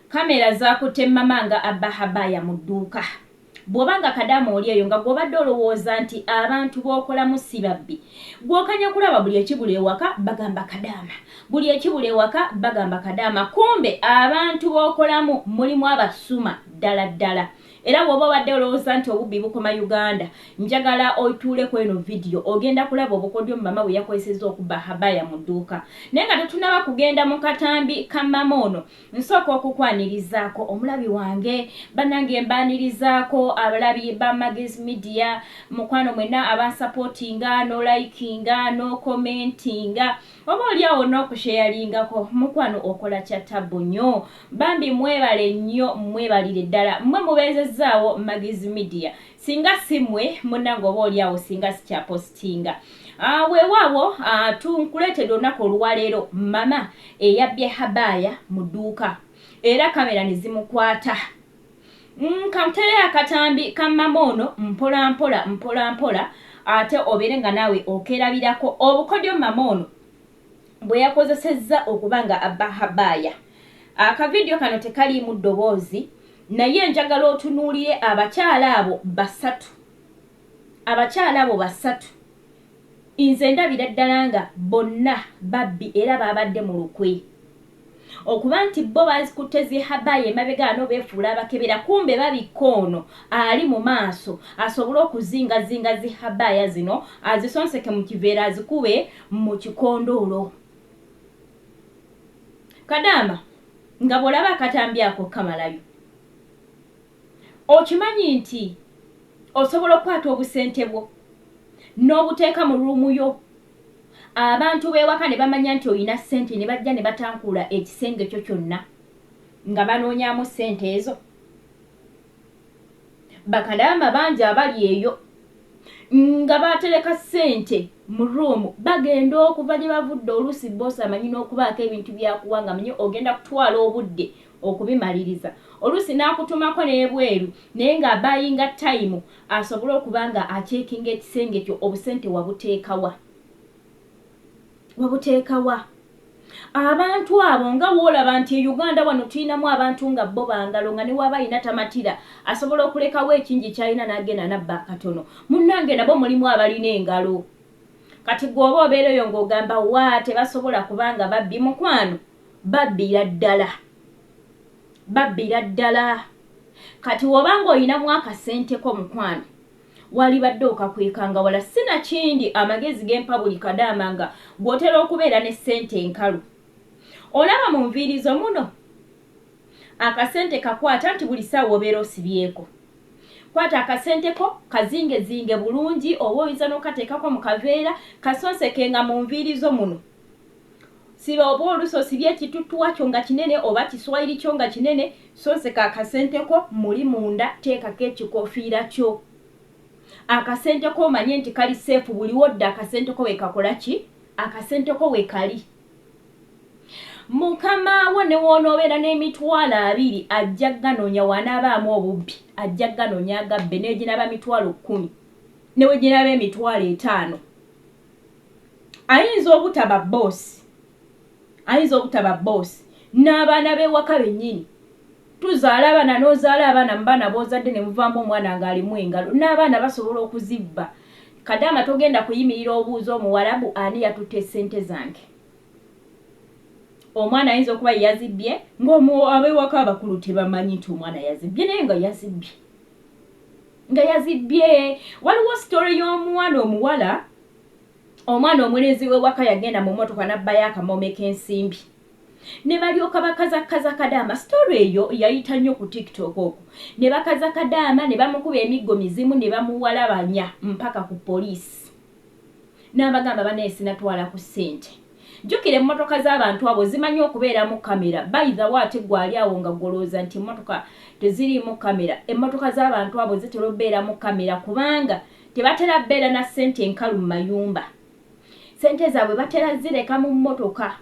Kkamera zaakutte Mama nga abba Habaya mu dduuka. Bw'oba nga kadaama oli eyo nga gw'obadde olowooza nti abantu b'okolamu si babbi, gw'okanya kulaba buli ekibula ewaka bagamba kadaama, buli ekibula ewaka bagamba kadaama kumbe abantu b'okolamu mulimu abasuma ddala ddala. Era bw'oba obadde olowooza nti obubbi bukoma Uganda, njagala otuule ku eno vidiyo ogenda kulaba obukodyo Mama bwe yakozesezza okubba Habaya mu dduuka. Naye nga totunnaba kugenda mu katambi ka Mama ono, Nsooka okukwanirizaako omulabi wange. Banange mbaanirizaako abalabi ba Maggie's Media. Mukwano mwena abansapootinga nolikinga nokomentinga oba olyawo nokusheyalingako mukwano okola kya tabbu nyo. Bambi mwebale nyo mwebalire ddala mwe mubeezezzaawo Maggie's Media Singa simwe munange oba oli awo singa sikya postinga uh, ah, wewawo uh, ah, tunkuletede olunaku oluwaleero mama eyabbye habaya mu dduuka era kamera nezimukwata mm, kankutereyo akatambi ka mama ono mpolampola mpolampola ate obeere nga naawe okerabirako obukodyo mama ono bwe yakozesezza okuba nga abba Habaaya. Akavidiyo kano tekaliimu ddoboozi naye njagala otunuulire abakyala abo basatu. Abakyala abo basatu nze ndabira ddala nga bonna babbi era baabadde mu lukwe. Okuba nti bbo bazikutte zi habaaya emabega wano befuula abakebera kumbe babikka ono ali mu maaso asobole okuzinga zinga zi habaaya zino azisonseke mu kiveera azikube mu kikondoolo. Kadaama nga bwolaba akatambi ako kamalayo okimanyi nti osobola okukwata obusente bwo n'obuteeka mu ruumuyo. abantu b'ewaka ne bamanya nti olina ssente ne bajja ne batankuula ekisenge kyo kyonna nga banoonyaamu ssente ezo bakadaama bangi abali eyo nga batereka ssente mu ruumu bagenda okuva gye bavudde oluusi boosi amanyi n'okubaako ebintu byakuwa nga manye ogenda kutwala obudde okubimaliriza oluusi n'akutumako n'ebweru naye nga abayinga tayimu asobole okuba nga acekinga ekisenge kyo obusente wabuteeka wa wabuteeka wa abantu abo nga woolaba nti e uganda wano tulinamu abantu nga bo bangalo nga newaaba alina tamatira asobola okulekawo ekingi kyalina n'agenda nabba akatono munnange nabo mulimu abalina engalo kati gweoba obeera oyo ng'ogamba waa tebasobola kubanga babbi mukwano Babbira ddala. Babbira ddala. Kati woba nga oyinamu akasente ko mukwano walibadde okakwekanga wala sinakindi amagezi gempa buli kadaama nga gwe otera okubeera ne sente enkalu olaba mu nviiri zo muno akasente kakwata nti buli saawa obeera osibyeko kwata akasente ko kazingezinge bulungi oba oyinza nokateekako mu kaveera kasonseke nga mu nviiri zo muno Siba oba olusi osibye ekituttuwa kyo nga kinene oba kiswayiri kyo nga kinene, sonseka akasente ko muli munda teekako ekikofiira kyo. Akasente ko omanye nti kali seefu buli wodda akasente ko wekakola ki? Akasente ko wekali. Mukama wo ne w'onoobeera n'emitwalo abiri ajja kuganoonya w'anaabaamu obubbi, ajja kuganoonya agabbe ne bwe ginaaba mitwalo kkumi ne bwe ginaaba emitwalo etaano. ayinza obutaba boss ayinza obutaba boss n'abaana b'ewaka bennyini tuzaala abaana n'ozaala abaana mu baana b'ozadde ne muvaamu omwana ng'alimu engalo n'abaana basobola okuzibba kadaama togenda kuyimirira obuuza omuwalabu ani yatutte ssente zange omwana ayinza okuba yeyazibbye ng'abeewaka abakulu tebamanyi nti omwana yazibbye naye nga yazibbye nga yazibye waliwo story y'omuwana omuwala omwana omulenzi wewaka yagenda mu motoka nabbayo akamome k'ensimbi ne balyoka bakazakaza kadaama story eyo yayita nnyo ku tiktok oku ne bakaza kadaama ne bamukuba emiggo mizimu ne bamuwalabanya mpaka ku poliisi Nabagamba banaye sinatwala ku sente. Jukira emotoka zabantu abo zimanyi okubeeramu camera by the way ate gwe ali awo nga gwe olowooza nti emotoka teziriimu camera emotoka zabantu abo zitera obeeramu camera kubanga tebatera beera na sente nkalu mu mayumba sente zaabwe batera zireka mu motoka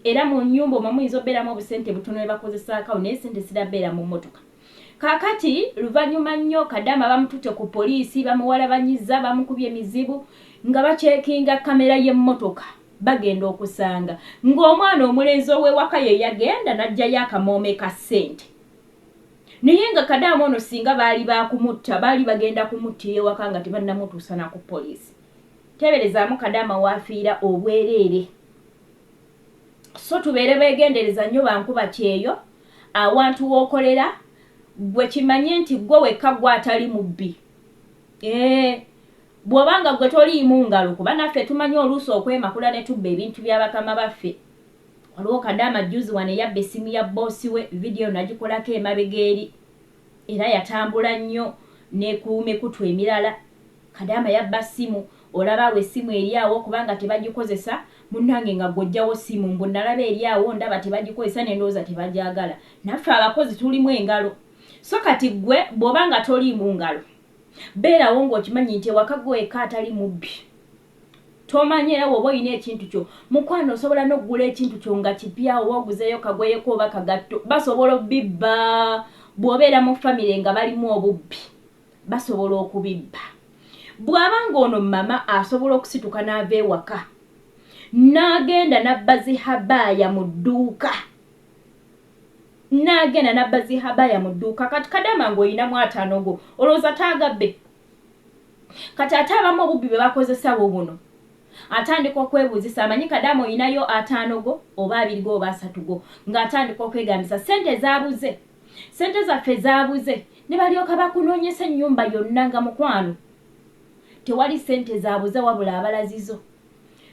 era mu nyumba omwo muyinza obeeramu obusente butono nebakozesaakawo naye sente zirabeera mu motoka. Kakati luvanyuma nnyo kadama bamutute ku poliisi bamuwalabanyiza bamukubye mizibu nga bacekinga kamera yemotoka bagenda okusanga nga omwana omulenzi owewaka yeyagenda najjayo akamoome ka sente naye nga kadama ono singa baali bakumutta baali bagenda kumuttira ewaka nga tebanamutuusana ku poliisi teberezamu kadama wafiira obwereere So tubeere begendereza nyo bankuba kyeyo awantu wokolera gwe kimanye nti gwe wekka gwe atali mubbi ee bwoba nga gwe toliimu ngalo kuba naffe tumanyi oluusi okwemakula ne tubba ebintu bya bakama baffe waliwo kadaama juzi wano eyabba essimu ya bboosi we vidiyo nagikolako emabega eri Era yatambula nnyo ne ku mikutu emirala. Kadaama yabba ssimu. Olaba awo essimu eri awo okuba nga tebagikozesa. Munnange nga ggwe oggyawo ssimu? Mbu nnalaba eri awo ndaba tebagikozesa ne ndowooza tebagyagala. Naffe abakozi tulimu engalo. So kati ggwe bw'oba nga toliimu ngalo, beerawo ng'okimanyi nti ewaka ggwe wekka atali mubbi. Tomanyi era woba oyina ekintu kyo mukwano osobola nokugula ekintu kyo nga kipya oba oguzeyo kagweyeko oba kagatto basobola obibba bwobeera mu famire nga balimu obubbi basobola okubibba bwaba nga ono mama asobola okusituka naava ewaka nagenda nabba zihabaaya mu dduuka nagenda nabba zihabaaya mu dduuka kati kadama nga oyinamu ataanogo olowooza taagabbe kati ate abamu obubbi bwe bakozesa bwo buno atandika okwebuuzisa amanyi kadaama olinayo ataano go oba abiri go oba asatu go ng'atandika okwegambisa ssente zaabuze ssente zaffe zaabuze ne balyoka bakunoonyesa ennyumba yonna nga mukwano tewali ssente zaabuze wabula abalazizo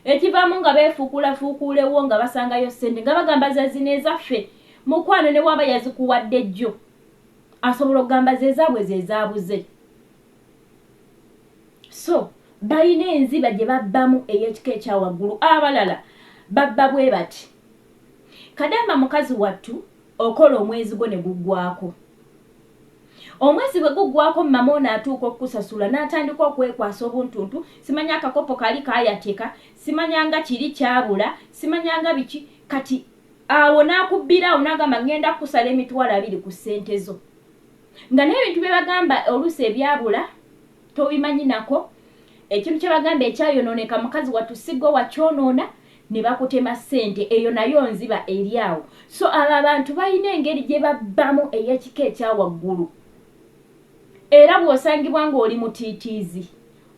ekivaamu nga beefuukuulafuukuulewo nga basangayo ssente nga bagamba zazina ezaffe mukwano ne waaba yazikuwadde jjo asobola okugamba zezaabwe zezaabuze so balina enziba gye babbamu ey'ekika ekya waggulu abalala babba bwe bati kadamba mukazi wattu okola omwezi gwo ne guggwako omwezi bwe guggwako mama ono atuuka okukusasula n'atandika okwekwasa obuntuntu simanya akakopo kali kayateka simanyanga kiri kyabula simanyanga biki kati Awo n'akubbira awo n'agamba, Ŋŋenda kukusala emitwalo abiri ku ssente zo. Nga n'ebintu bye bagamba oluusi ebyabula tobimanyi nako. Ekintu kye bagamba ekyayonooneka mukazi wattu si ggwe wakyonoona, ne bakutema ssente. Eyo nayo nziba eri awo. So abo abantu balina engeri gye babbamu ey'ekika ekya waggulu. Era bw'osangibwa ng'oli mutiitiizi,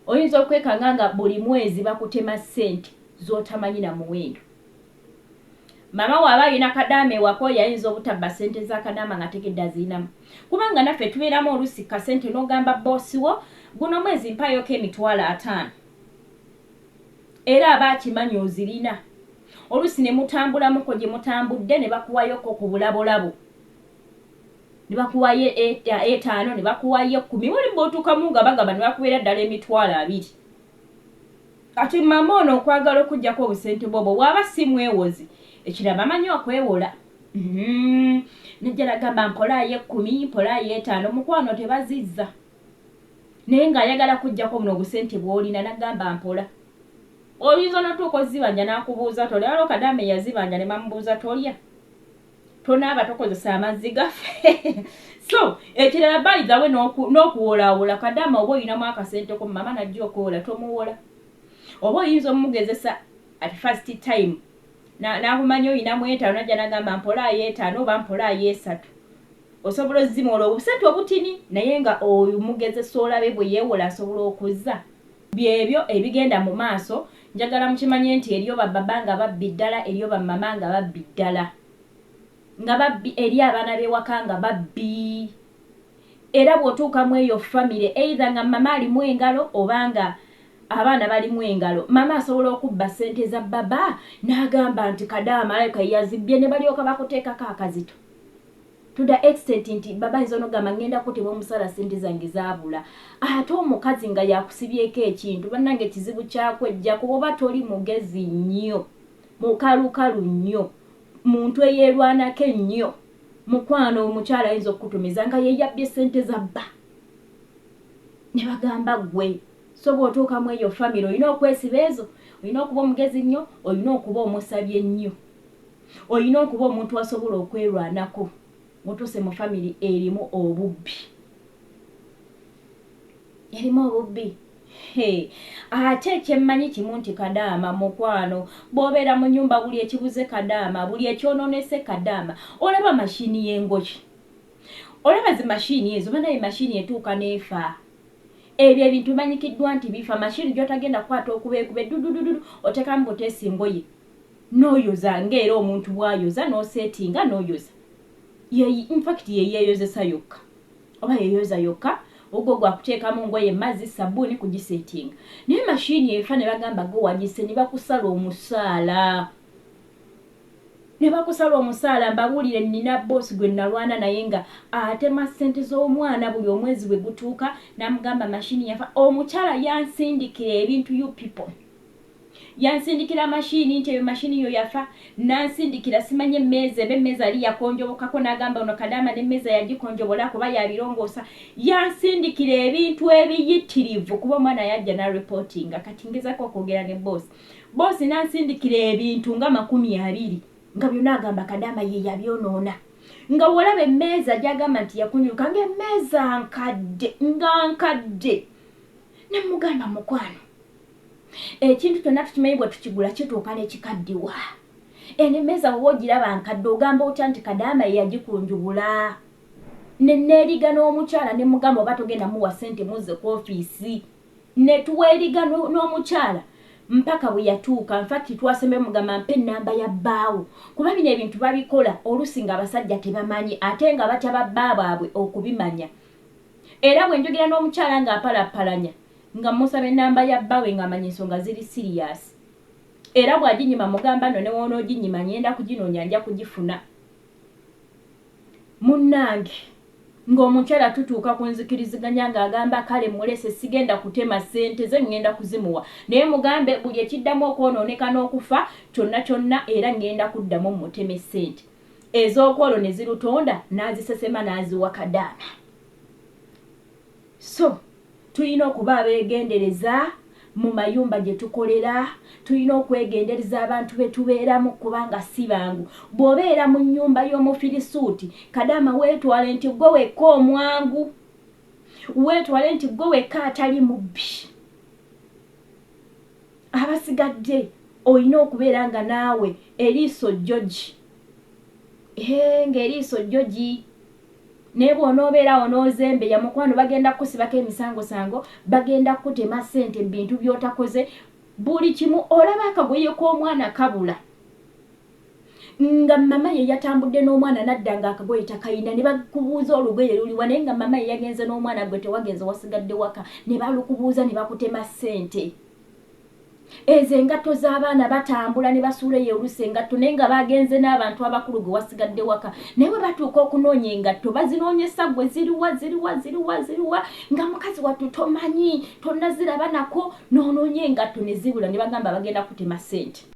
oyinza okwekanga nga buli mwezi bakutema ssente z'otamanyi na muwendo. Maama wo aba alina kadaama ewaka oyo ayinza obutabba ssente za kadaama ng'ategedde azirinamu. Kubanga naffe tubeeramu oluusi kasente n'ogamba bboosi wo guno omwezi mpaayoko emitwalo ataano era aba akimanyi ozirina. Oluusi ne mutambulamuko gye mutambudde ne bakuwayoko ku bulabolabo ne bakuwayo e, e, etaano ne bakuwayo ekkumi wali bw'otuukamu nga bagamba ne bakubeera ddala emitwalo abiri. Kati mama ono okwagala okujjako obusente bwobo waba si mwewozi ekirala bamanyi okwewola mm-hmm. nejjala gamba mpola ayekumi mpola ayetaano mukwano tebazizza naye nga ayagala kujjako buno obusente bwolina nagamba mpola oyinza notuuka ozibanja nakubuuza tolya waliwo kadame yazibanja nebamubuuza tolya tonaaba tokozesa amazzi gaffe so ekirala bayigawe n'okuwolawola kadaama oba olinamu akasenteko mama najja okuwola tomuwola oba oyinza omumugezesa at first time nakumanya olinamu etaano najja nagamba mpola ayo etaano oba mpola ayo esatu osobola ozimwola obusente obutini naye nga omugezesa olabe bwe yewola asobola okuza Byebyo ebigenda mu maaso. Njagala mukimanye nti eriyo ba baba nga babbi ddala, eriyo ba mama nga babbi ddala. Nga babbi eri abaana b'ewaka nga babbi. Era bw'otuuka mu eyo famire either nga mama alimu engalo oba nga abaana balimu engalo, mama asobola okubba ssente za baba n'agamba nti kadaama alabika ye yazibbye ne balyoka bakuteekako akazito. to the extent nti baba ayinza onogamba ngenda kutibwa omusala sente zange zabula ate omukazi nga yakusibyeko ekintu banange ekizibu kyakwejja kuba oba toli mugezi nnyo mukalukalu nnyo muntu eyerwanako ennyo mukwano omukyala ayinza okukutumiza nga yeyabbye sente zabba ne bagamba gwe so bwotuuka mu eyo famiry olina okwesiba ezo olina okuba omugezi nnyo olina okuba omusabye nnyo Olina okuba omuntu asobola okwerwanako mutuse mu family erimu obubbi erimu obubbi ate ekyemmanyi kimu nti kadaama mukwano bwobeera mu nyumba buli ekibuze kadaama buli ekyononese kadaama olaba mashini yengoki olaba zi mashini ezo banaye mashini etuuka neefa ebyo ebintu manyikiddwa nti bifa mashini gyotagenda kukwata okuba ekube dudududu otekamu butesi ngoye Noyoza nga era omuntu bwayoza nosetinga noyoza ye in fact ye yeyozesa yokka oba yeyoza yokka ogwo gwa kutekamu ngoye mazzi sabuni kugisetinga naye machine efa ne bagamba go wagise ne bakusala omusaala ne bakusala omusaala mbabulire nina boss gwe nalwana naye nga atema sente z'omwana buli omwezi bwe gutuuka namugamba machine yafa omukyala yansindikira ebintu you people Yansindikira machine nti eyo machine yo yafa nansindikira simanyi emmeeza eba emmeeza yali yakonjobokako nagamba ono kadaama ne mmeeza yagikonjobola kuba ya birongoosa yansindikira ebintu ebiyittirivu kuba omwana yajja na reportinga kati ngezako okwogera ne boss boss nansindikira ebintu nga makumi abiri nga byona agamba kadaama ye yabyonoona nga wolaba emmeeza gyagamba nti yakunyuka nga emmeeza nkadde nga nkadde nemugamba mukwano Ekintu kyonna tukimanyi bwe tukigula kituuka ne kikaddiwa. Eno emmeeza bw'oba ogiraba nkadde ogamba otya nti Kadaama ye yagikunjubula? Ne nneeriga n'omukyala ne mmugamba oba togenda muwa ssente muzze ku ofiisi. Ne tweeriga n'omukyala mpaka bwe yatuuka. In fact twasembayo mmugamba mpa ennamba ya bbaawo kuba bino ebintu babikola oluusi ng'abasajja tebamanyi ate nga batya ba bba baabwe okubimanya. Era bwe njogera n'omukyala ng'apalappalanya. nga mmusaba ennamba ya bbawe nga manya ensonga ziri siriyaasi era bw'aginyima mugamba nno ne w'onooginyima ng'enda kuginoonya nja kugifuna. Munnange ng'omukyala tutuuka ku nzikiriziganya ng'agamba kale mmulese sigenda kutema ssente ze ng'enda kuzimuwa naye mugambe buli ekiddamu okwonooneka n'okufa kyonna kyonna era ng'enda kuddamu mmuteme ssente ez'okwolo ne zirutonda n'azisesema n'aziwa Kadaama. So, tulina okuba abeegendereza mu mayumba gye tukolera. Tulina okwegenderza abantu be tubeeramu kubanga si bangu. Bw'obeera mu nnyumba y'Omufirisuuti, kadaama weetwale nti ggwe wekka omwangu. Weetwale nti ggwe wekka atali mubbi. Abasigadde olina okubeera nga naawe eriiso jjogi. Hee, ng'eriiso jjogi! Naye bwonoobeera awo n'ozembeya mukwano bagenda kukusibako emisangosango, bagenda kukutema ssente mu bintu by'otakoze, buli kimu. Olaba akagoye k'omwana kabula nga mama ye yatambudde n'omwana nadda nga akagoye takalina ne bakubuuza olugoye luliwa naye nga mama ye yagenze n'omwana gwe tewagenze wasigadde waka ne balukubuuza ne bakutema ssente. Ezo engatto z'abaana batambula ne basuula eyo oluusi engatto naye nga baagenze n'abantu abakulu gwe wasigadde waka naye bwe batuuka okunoonya engatto bazinoonyesa gwe ziri wa ziri wa ziri wa ziri wa nga mukazi wattu tomanyi tonnaziraba nako n'onoonya engatto ne zibula ne bagamba bagenda kutema ssente.